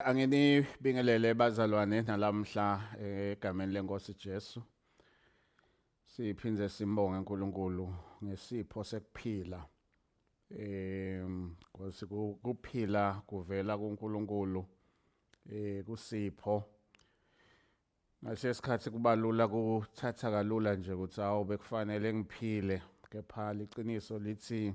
Anginibingelele bazalwane nalamhla eh, egameni lenkosi Jesu. Siphinde simbonge uNkulunkulu ngesipho sekuphila. Em ngosi kuphila kuvela kuNkulunkulu eh kusipho. Ngalesisikhathi kubalula kuthatha kalula nje ukuthi awu bekufanele ngiphile kepha liqiniso lithi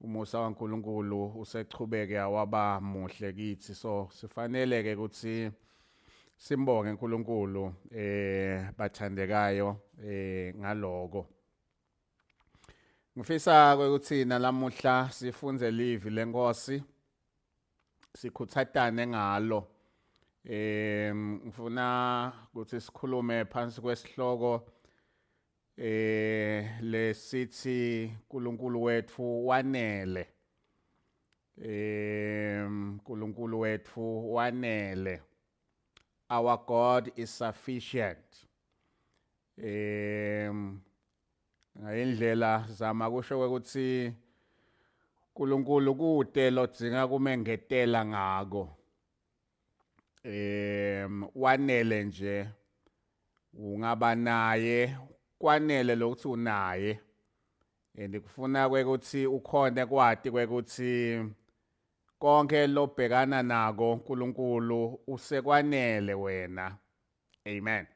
umusa waNkulunkulu usechubeke awaba muhle kithi so sifanele ke ukuthi simbonge uNkulunkulu eh bathandekayo eh ngaloko ngifisa ukuthi nalamuhla sifunze livi lenkosi sikhuthatane ngalo eh ngifuna ukuthi sikhulume phansi kwesihloko eh lesithi uNkulunkulu wethu wanele eh uNkulunkulu wethu wanele our god is sufficient eh ngayindlela zama kusho ukuthi uNkulunkulu kude lodzinga kumengetela ngako em wanele nje ungaba naye kwanele lokuthi unaye and kufuna kwekuthi ukhonde kwati kwekuthi konke lobhekana nako uNkulunkulu usekwanele wena amen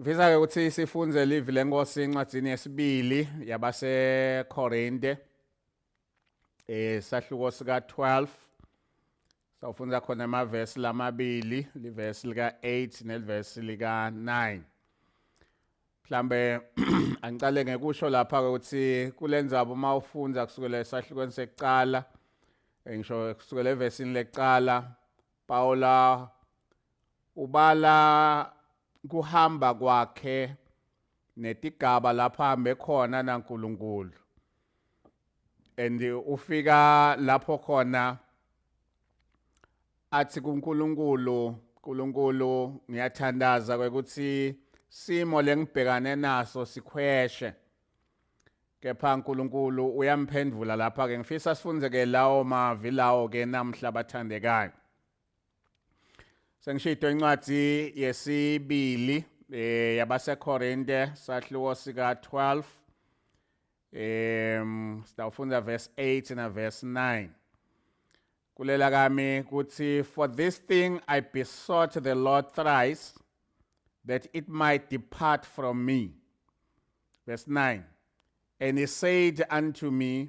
Ngifisa ke ukuthi sifunze livi lenkosi encwadzini yesibili yabaseKorinte eh sahluko sika 12 sawufunda khona amavesi lamabili livesi lika 8 nelivesi lika 9 mhlambe angicale ngekusho lapha ukuthi kulenzaba uma ufunda kusukela esahlukweni sekuqala eh, ngisho kusukela evesini lekuqala Paula ubala kuhamba kwakhe netigaba lapho ahambe khona naNkulunkulu and ufika lapho khona athi kuNkulunkulu uNkulunkulu ngiyathandaza ukuthi simo lengibhekane naso sikhweshe kepha uNkulunkulu uyamphendvula lapha ke ngifisa sifunze ke lawo mavi lawo ke namhla bathandekayo Sengishido incwadi yesibili eh yabaseKorinte sahluko sika 12 em sitawufunda verse 8 na verse 9 kulela kami kuthi for this thing i besought the lord thrice that it might depart from me verse 9 and he said unto me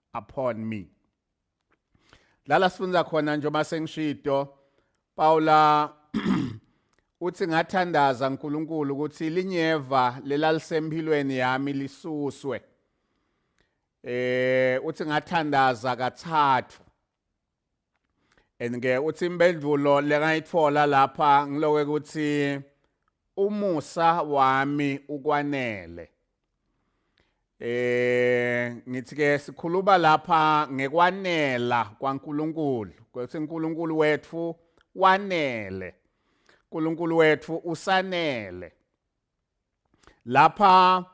upon me lala sifunda khona nje uma sengishido Paula uthi ngathandaza uNkulunkulu ukuthi linyeva lelalisempilweni yami lisuswe eh uthi ngathandaza kathathu and ke uthi impendulo lekayitfola lapha ngiloke ukuthi umusa wami ukwanele eh ngithi ke sikhuluma lapha ngekwanela kwaNkuluNkulu ukuthi uNkuluNkulu wethu wanele uNkuluNkulu wethu usanele lapha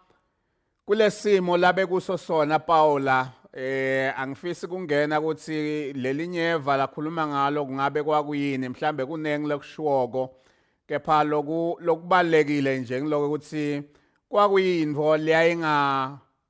kulesimo labe kuso sona Paula eh angifisi kungena ukuthi lelinyeva lakhuluma ngalo kungabe kwakuyini mhlambe kuningi lokushiwoko kepha loku lokubalekile nje ngiloko ukuthi kwakuyinto leyayinga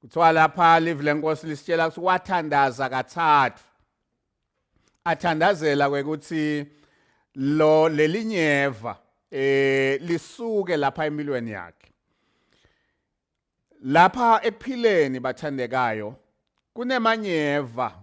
kuthiwa lapha live lenkosi lisitshela ukuthi wathandaza kathathu athandazela kwekuthi lo lelinyeva eh lisuke lapha empilweni yakhe lapha ekuphileni bathandekayo kunemanyeva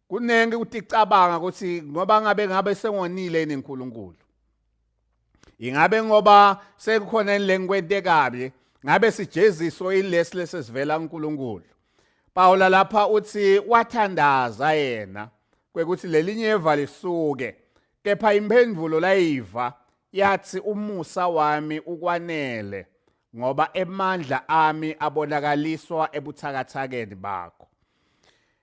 kuningi ukuthi cabanga ukuthi ngoba ngabe ngabe sengonile yini uNkulunkulu ingabe ngoba sekukhona lenkwente kabi ngabe sijeziso ilesi lesivela uNkulunkulu Pawula lapha uthi wathandaza yena kwekuthi lelinye eva lisuke kepha imphendulo layiva yathi umusa wami ukwanele ngoba emandla ami abonakaliswa ebuthakathakeni bakho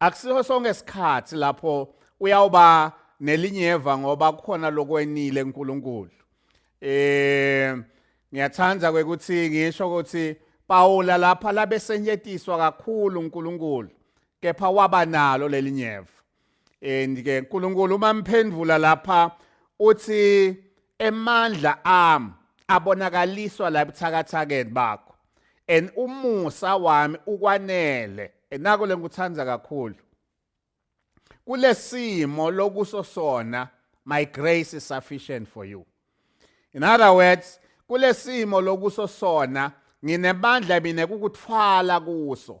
akusiho sonke isikhathi lapho uyawuba nelinyeva ngoba kukhona lokwenile uNkulunkulu eh ngiyathanda ukuthi ngisho ukuthi Pawula lapha labesenyetiswa kakhulu uNkulunkulu kepha waba nalo lelinyeva and ke uNkulunkulu uma mphendvula lapha uthi emandla am abonakaliswa la buthakathakeni bakho and umusa wami ukwanele enako lengikuthanda kakhulu kulesimo lokuso sona my grace is sufficient for you in other words kulesimo lokuso sona nginebandla mina kukuthwala kuso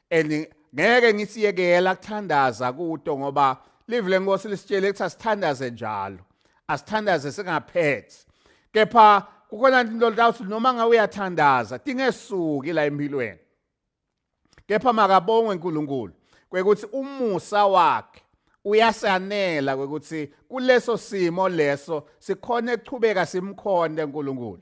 and ngeke ngisiyekela kuthandaza kuto ngoba live lenkosi lisitshele ukuthi asithandaze njalo asithandaze singaphethi kepha kukhona into lawuthi noma ngawe uyathandaza tingesuki la empilweni kepha makabongwe uNkulunkulu kwekuthi umusa wakhe uyasanela kwekuthi kuleso simo leso sikhona ekuchubeka simkhonde uNkulunkulu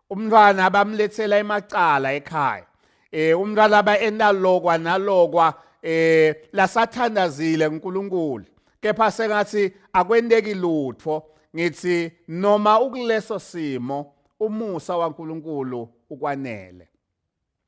umntwana abamlethela emacala ekhaya eh umntwana aba enalokwa nalokwa eh lasathandazile uNkulunkulu kepha sengathi akwendeki lutho ngithi noma ukuleso simo umusa waNkulunkulu ukwanele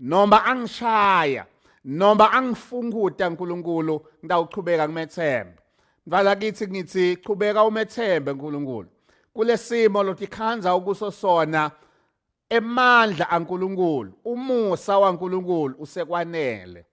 noma angishaya noma angifunguta uNkulunkulu ngitawuchubeka ngimethembe mfana kithi ngithi chubeka umethembe uNkulunkulu kulesimo lotikhanza ukuso sona emandla aNkulunkulu umusa waNkulunkulu usekwanele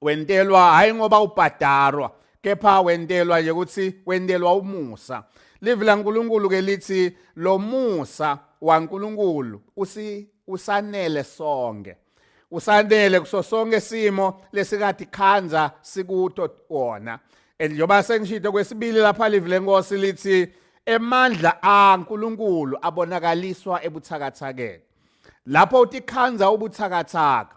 wentelwa hayi ngoba ubhadarwa kepha wentelwa nje ukuthi wentelwa umusa livi lankulunkulu ke lithi lo musa wankulunkulu usi usanele sonke usanele kuso sonke simo lesikade khanza sikuto wona and njengoba sengishito kwesibili lapha livi lenkosi lithi emandla aNkulunkulu abonakaliswa ebuthakathakeni lapho utikhanza ubuthakathaka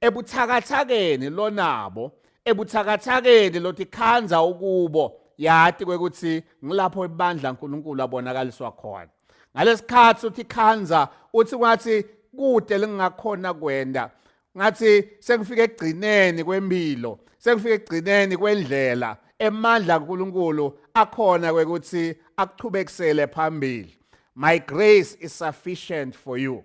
ebuthakathakeni lonabo ebuthakathakeni lothi khanza ukubo yati kwekuthi ngilapho ibandla uNkulunkulu abonakaliswa khona ngalesikhathi uthi khanza uthi kwathi kude lingakhona kwenda ngathi sengifike egcineni kwempilo sengifike egcineni kwendlela emandla kaNkuluNkulu akhona kwekuthi akuchubekisele phambili my grace is sufficient for you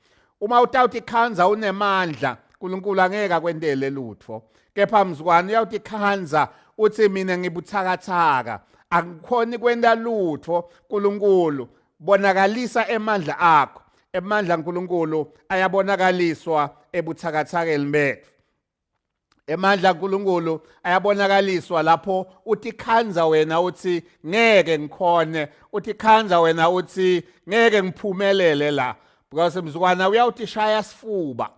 Uma utawuthi ikhanza unemandla, uNkulunkulu angeke akwentele lutho. Kepha mzukwane uyawuthi ikhanza uthi mina ngibuthakathaka, angikhoni kwenta lutho uNkulunkulu bonakalisa emandla akho. Emandla uNkulunkulu ayabonakaliswa ebuthakathakeni bethu. emandla kaNkuluNkulu ayabonakaliswa lapho uthi khanza wena uthi ngeke ngikhone uthi khanza wena uthi ngeke ngiphumelele la because mzukwana uyawuthi shaya sifuba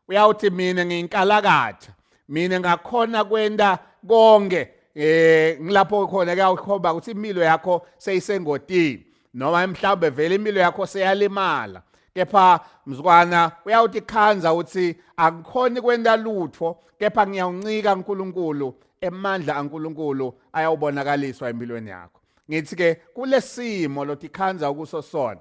uyawuthi mina ngiyinkalakatha mina ngakhona kwenda konke eh ngilapho khona kuyakhomba ukuthi impilo yakho seyisengodini noma mhlawumbe vele impilo yakho seyalimala kepha mzukwana uyawuthi khanza uthi akukhona kwenta lutho kepha ngiyawuncika uNkulunkulu emandla aNkulunkulu ayawubonakaliswa empilweni yakho ngithi ke kulesimo lothi khanza ukuso sona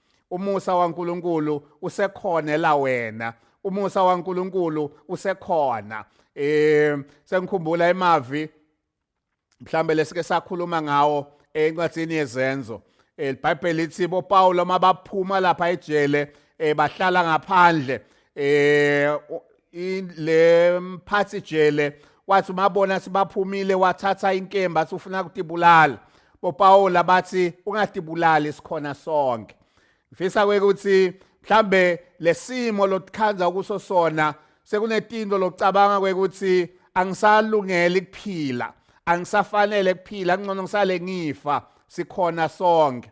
umusa waNkuluNkulu usekhonela wena umusa waNkuluNkulu usekhona eh sengikhumbula imavi mhlambe lesike sakhuluma ngawo encwadini yezenzo elibhayibheli eh, lithi boPawulo mabaphuma lapha ejele eh, bahlala ngaphandle eh le mphathi jele wathi umabona sibaphumile wathatha inkemba sifuna kutibulala boPawula bathi ungatibulali sikhona sonke ngifisa ukuthi mhlambe lesimo lotikhanza kuso sona sekunetinto lokucabanga kwekuthi angisalungeli kuphila angisafanele kuphila kungcono ngisale ngifa sikhona sonke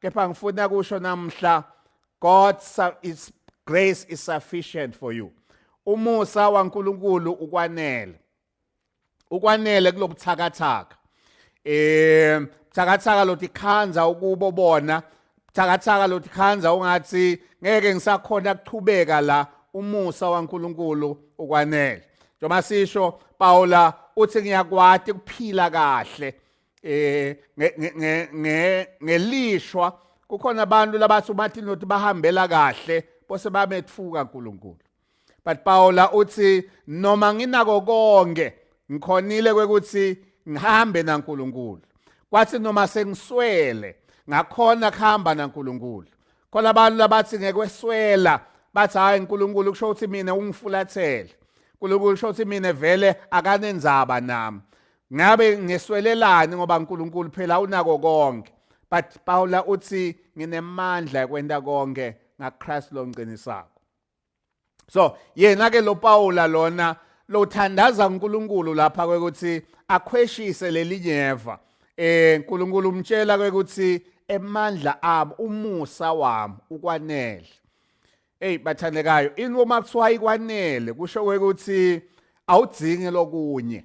kepha ngifuna kusho namhla God is grace is sufficient for you umusa waNkulunkulu ukwanele ukwanele kulobuthakathaka eh buthakathaka lothi khanza ukubo bona buthakathaka lothi khanza ungathi ngeke ngisakhona kuchubeka la umusa waNkulunkulu ukwanele njengoba sisho Paula uthi ngiyakwati kuphila kahle eh nge nge nge ngelishwa kukhona abantu labathi uMartin Luther bahambela kahle bose bametfuka uNkulunkulu but Paula uthi noma nginako konke ngikhonile kwekuthi ngihambe naNkulunkulu kwathi noma sengiswele ngakhona kuhamba naNkulunkulu khona abantu labathi ngekweswela bathi hayi uNkulunkulu kusho ukuthi mina ungifulathele uNkulunkulu kusho ukuthi mina vele akanenzaba nami ngabe ngeswelelani ngoba uNkulunkulu phela unako konke but Paula uthi nginemandla ekwenta konke ngaChrist longiqinisako so yena ke lo Paula lona lothandaza uNkulunkulu lapha kwekuthi akhweshise lelinyeva eh uNkulunkulu umtshela kwekuthi emandla ami umusa wami ukwanele hey bathandekayo ini uma kuthiwa ikwanele kusho ukuthi awudzingi lokunye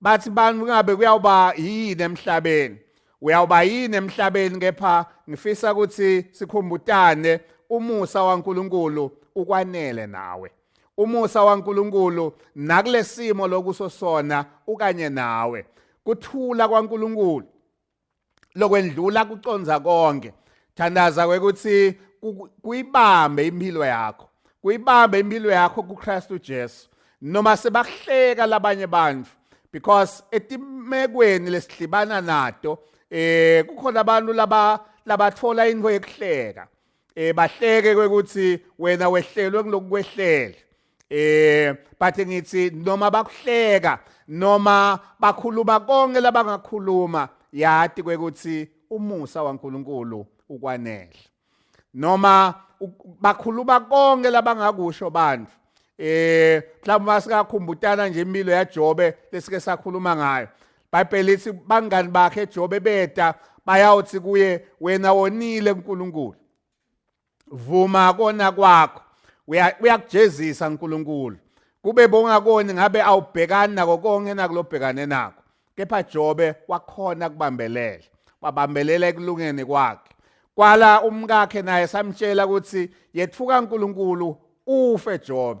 bathi bani kungabe kuyawuba yini emhlabeni uyawuba yini emhlabeni kepha ngifisa ukuthi sikhumbutane umusa waNkuluNkulu ukwanele nawe umusa waNkuluNkulu nakulesimo lokusosona ukanye nawe kuthula kwaNkuluNkulu lokwendlula kuconza konke thandaza ukuthi kuyibambe impilo yakho kuyibambe impilo yakho kuKristu Jesu noma sebahleka labanye abantu because etimekweni lesihlibana nato eh kukhona abantu laba labathola into yokuhleka eh bahleke kwekuthi wena wehlelwe kulokukwehlela eh but ngithi noma bakuhleka noma bakhuluma konke labangakhuluma yati kwekuthi umusa waNkuluNkulu ukwanele noma bakhuluma konke labangakusho bantu eh mhlawumbe masikakhumbutana nje impilo yaJobe lesike sakhuluma ngayo ibhayibheli lithi bangani bakhe ejobe beda bayawuthi kuye wena wonile unkulunkulu vuma kona kwakho uyakujezisa unkulunkulu kube bongakoni ngabe awubhekani nako konke nakulobhekane nako kepha jobe wakhona kubambelela wabambelela ekulungeni kwakhe kwala umkakhe naye samtshela ukuthi yethuka unkulunkulu ufe jobe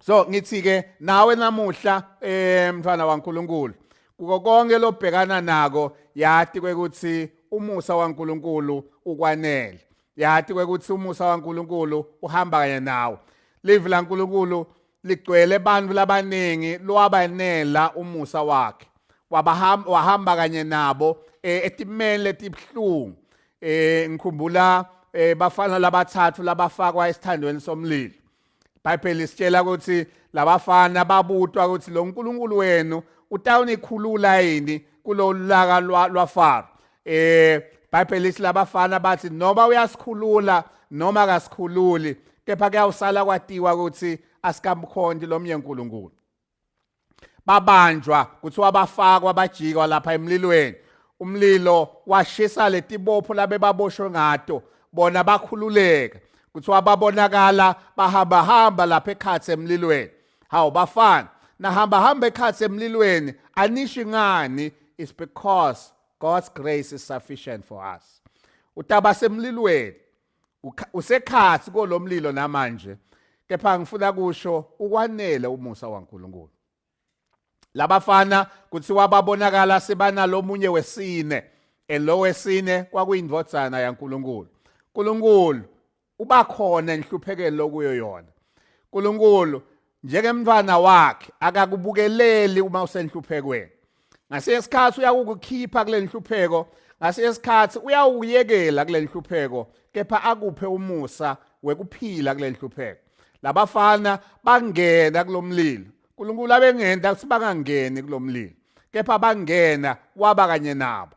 so ngithi ke nawe namuhla eh mfana waNkulunkulu kuko konke lobhekana nako yati kwekuthi umusa waNkulunkulu ukwanele yati kwekuthi umusa waNkulunkulu uhamba kanye nawe live laNkulunkulu ligcwele abantu labaningi lwabanela umusa wakhe wabahamba wahamba kanye nabo eh, etimeni letibhlungu eh ngikhumbula eh, bafana labathathu labafakwa esithandweni somlilo iBhayibheli sitshela ukuthi labafana babutwa ukuthi lo nkulunkulu wenu utawunikhulula yini kulo laka lwafaro eh iBhayibheli lithi labafana bathi noma uyasikhulula noma akasikhululi kepha kuyawusala kwatiwa ukuthi asikamkhonti lomnye uNkulunkulu babanjwa kuthiwa bafakwa bajikwa lapha emlilweni umlilo washisa letibopho labebaboshwe ngato bona bakhululeka kuthiwa babonakala bahamba hamba lapha ekhathi emlilweni hawu bafana nahamba hamba ekhathi emlilweni anishi ngani is because God's grace is sufficient for us utaba semlilweni usekhasi kolomlilo namanje kepha ngifuna kusho ukwanele umusa waNkulunkulu labafana kuthiwa babonakala sebanalomunye wesine elowesine kwakuyindvodzana yaNkulunkulu uNkulunkulu ubakhona enhluphekeni lokuyo yona uNkulunkulu njengemntwana wakhe akakubukeleli uma usenhluphekweni ngasinye isikhathi uyakukukhipha kule nhlupheko ngasinye isikhathi uyawukuyekela kule nhlupheko kepha akuphe umusa wekuphila kule nhlupheko labafana bangena kulomlilo uNkulunkulu abengenda ukuthi bangangeni kulomlilo kepha bangena waba kanye nabo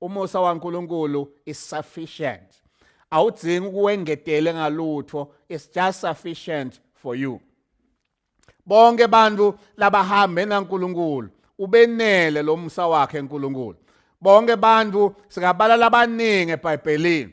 umusa waNkulunkulu is sufficient awudzingi ukuwengetele ngalutho it's just sufficient for you bonke abantu labahambe naNkulunkulu ubenele lomsa wakhe uNkulunkulu bonke abantu singabala labaningi eBhayibhelini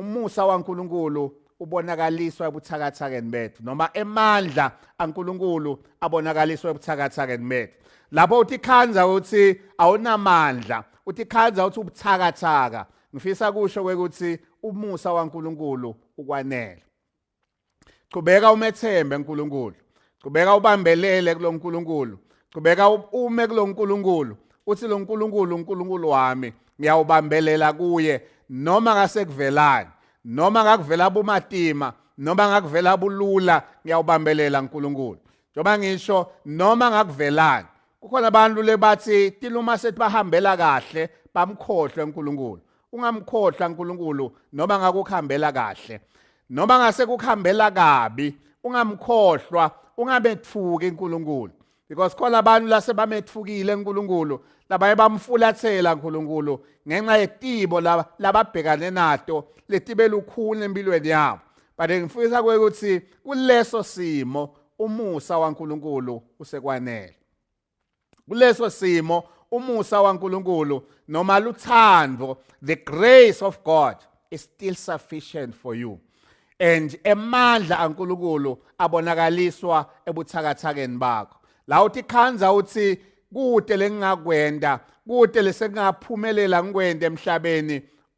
Umusa waNkulunkulu ubonakaliswa ebuthakathakeni bethu noma emandla aNkulunkulu abonakaliswa ebuthakathakeni bethu. Lapho uthi khanza uthi awunamandla, uthi khanza uthi ubuthakathaka. Ngifisa kusho ukuthi umusa waNkulunkulu ukwanele. qhubeka umethembe uNkulunkulu qhubeka ubambelele kuloNkulunkulu qhubeka ume kuloNkulunkulu uthi loNkulunkulu uNkulunkulu wami ngiyawubambelela kuye noma ngasekuvelani noma ngakuvela bumatima noma ngakuvela bulula ngiyawubambelela uNkulunkulu njengoba ngisho noma ngakuvelani kukhona abantu lebathi tiluma sethi bahambela kahle bamkhohlwe uNkulunkulu ungamkhohla uNkulunkulu noma ngakukhambela kahle noma ngase kukhambela kabi ungamkhohlwa ungamethuki uNkulunkulu because khona abantu lase bamethukile uNkulunkulu labaye bamfulathela uNkulunkulu ngenxa yetibo lababhekane nato letibe lukhulu empilweni yabo but ngifisa ukuthi kuleso simo umusa waNkulunkulu usekwanele kuleso simo umusa waNkulunkulu noma luthando the grace of God is still sufficient for you and emandla kaNkulunkulu abonakaliswa ebuthakathakeni bakho la uthi khanza uthi kude lengingakwenda kude lesengaphumelela ngikwende emhlabeni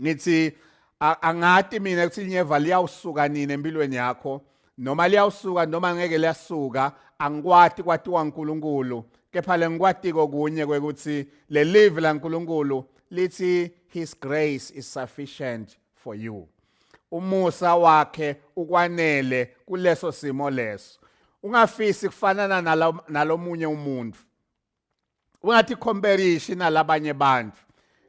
ngithi angati mina ukuthi linyeva liyawusuka nini empilweni yakho noma liyawusuka noma ngeke liyasuka angikwati kwatiwa uNkulunkulu kepha lengikwatiko kunye kwekuthi le live laNkulunkulu lithi his grace is sufficient for you umusa wakhe ukwanele kuleso simo leso ungafisi kufanana nalomunye umuntu ungatikhomberishi na labanye bantfu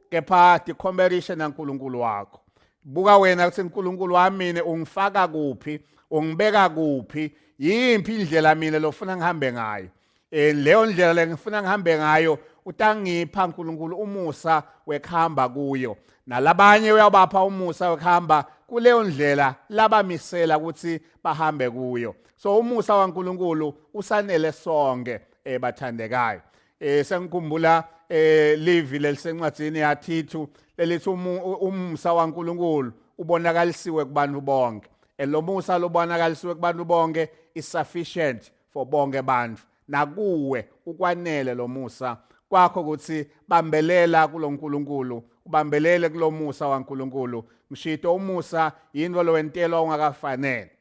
kepha tikhomberishe nankulunkulu wakho buka wena kutsi nkulunkulu wami mina ungifaka kuphi ungibeka kuphi yimpi indlela mina lofuna ngihambe ngayo eh leyo ndlela lengifuna ngihambe ngayo utangipha uNkulunkulu umusa wekhamba kuyo nalabanye uyabapha umusa wekhamba kuleyo ndlela labamisela ukuthi bahambe kuyo so umusa waNkulunkulu usanele sonke eh bathandekayo eh sengikhumbula eh live lelisencwadzini yathithu lelithi umsa waNkuluNkulu ubonakalisiwe kubantu bonke elomusa lobonakalisiwe kubantu bonke is sufficient for bonke abantu nakuwe ukwanele lomusa kwakho ukuthi bambelela kuloNkulunkulu ubambelele kulomusa waNkulunkulu mshito umusa yinto lowentelwa ungakafanele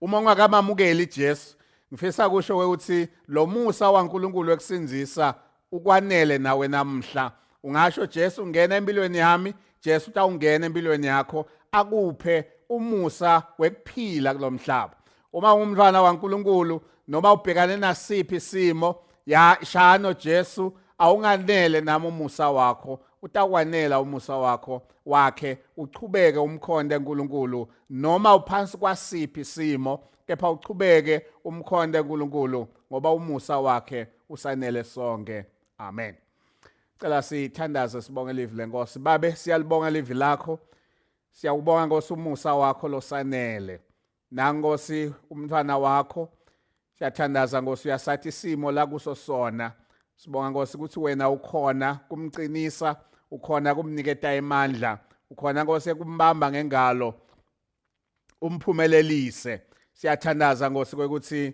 uma ungakamamukeli Jesu ngifisa kusho ukuthi lo musa waNkulunkulu ekusindisa ukwanele nawe namhla ungasho Jesu ngena empilweni yami Jesu utawungena empilweni yakho akuphe umusa wekuphila kulomhlaba uma ungumntwana waNkulunkulu noma ubhekane nasiphi isimo ya shano Jesu awunganele nami umusa wakho utakwanela umusa wakho wakhe uchubeke umkhonde uNkulunkulu noma uphansi kwasiphi isimo kepha uchubeke umkhonde uNkulunkulu ngoba umusa wakhe usanele sonke amen cela sithandaze sibonge livi lenkosi babe siyalibonga livi lakho siyakubonga nkosi umusa wakho losanele nankosi umntwana wakho siyathandaza nkosi uyasathi isimo la kuso sona sibonga nkosi ukuthi wena ukhona kumqinisa ukhona kumniketa imandla ukhona nkosi ekumbamba ngengalo umphumelelise siyathandaza nkosi kwekuthi